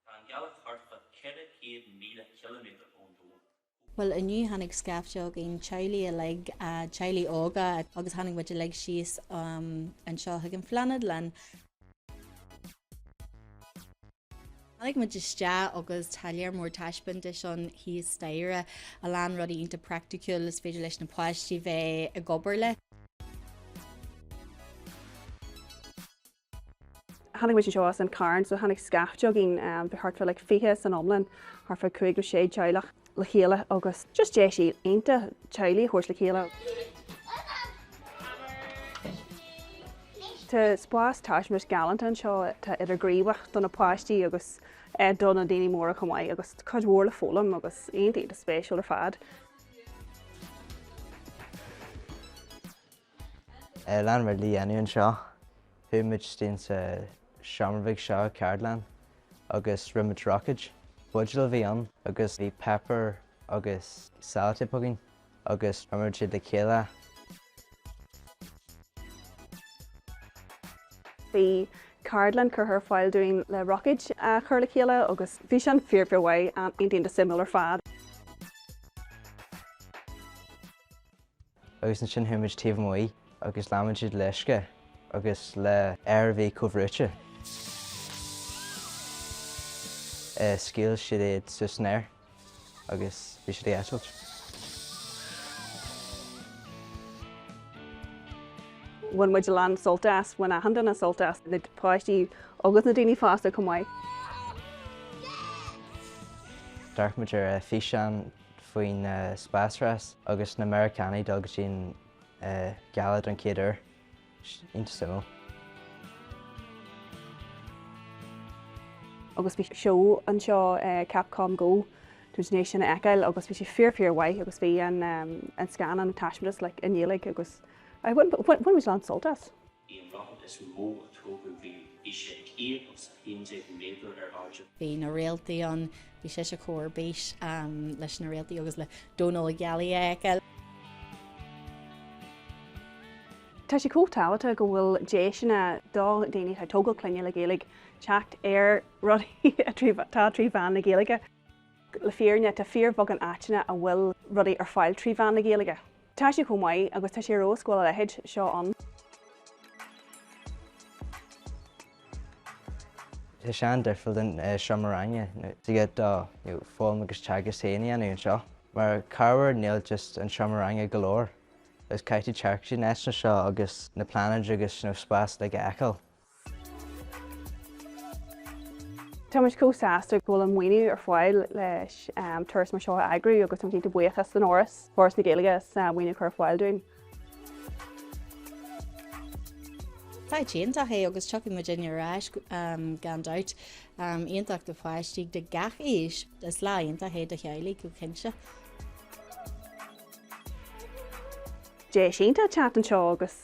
Tá an ghealach thart fá 400,000 ciliméadar ón domhan. Bhuel, inniu tháinig scaifte againn, teaghlaigh uilig, teaghlaigh óga, agus tháinig muid uilig síos anseo chuig an phláinéadlann. Tháinig muid isteach agus tá léar mór taispeántas ann thíos staighre, a lán rudaí iontach praiticiúil is féidir leis na páistí bheith ag obair leo. Tháinig muid anseo as an Charn, so tháinig scaifte againn, bhí thart fá like fiche san iomlán, thart fá cúig nó sé teaghlach le chéile agus just deis iontach teaghlaigh a thabhairt le chéile. Tá spás taispeántais galánta anseo atá idirghníomhach do na páistí agus do na daoine móra chomh maith agus cuid mhór le foghlaim agus iontach spéisiúil ar fad. Leon, a mar lá inniu anseo. Chuaigh muid isteach sa seomra bheag seo, ceardlann, agus rinne muid roicéid. Buidéal a bhí ann agus bhí páipéar agus sellotape againn agus chuir muid iad le chéile. Bhí ceardlann curtha ar fáil dúinn le roicéid a chur le chéile agus bhí sin fíor fíor mhaith, iontach suimiúil ar fad. agus ansin chuaigh muid taobh amuigh agus líon muid iad le uisce agus le aer a bhí comhbhrúite. Scaoil siad iad suas san aer agus bhí siad ag eitilt. Bhain muid a lán sult as, bhain achan duine sult as, na páistí agus na daoine fásta chomh maith. D'amharc muid ar fhíseán faoin spásrás agus na Meiriceánaigh ag dul go dtí an Ghealach don chéad uair. Iontach suimiúil. agus bhí seó anseo Capcom Go don Ghaeilge sin a fheiceáil agus bhí sé fíor fíor mhaith agus bhí an scannán an taispeántas uilig i nGaeilge agus bhain muid a lán sult as. Í an rud is mó a tógadh riamh. Bhí sé céad is a haon déag méadar ar airde. Bhí na réaltaí ann. Bhí sise ar bís leis na réaltaí agus le domhan na gealaí a fheiceáil. Tá sé chomh tábhachtach go bhfuil deiseanna ag daoine atá ag tógáil clainne le Gaeilge teacht ar rudaí atá trí mheán na Gaeilge. Le fírinne, tá fíorbheagán áiteanna a bhfuil rudaí ar fáil trí mheán na Gaeilge. Tá sé chomh maith, agus tá sé ar dóigh go bhfuil a leithéid seo ann. Tá sé an-difriúil don seomra ranga, thig leat do fhoghlaim agus teagasc féin a dhéanamh anseo. Mar ábhar, níl just an seomra ranga go leor, agus caithfidh tú teacht go dtí na háiteanna seo agus na pláinéid agus an spás uilig a fheiceáil. Tá muid chomh sásta go bhfuil an maoiniú ar fáil le turas mar seo a eagrú agus táimid cinnte buíoch don Fhoras, Foras na Gaeilge as an maoiniú a chur ar fáil dúinn. Áit iontach é agus tiocfaidh muid ar ais gan dabht. Am iontach do pháistí de gach aois. Is lá iontach é do theaghlaigh go cinnte. Deis iontach teacht anseo agus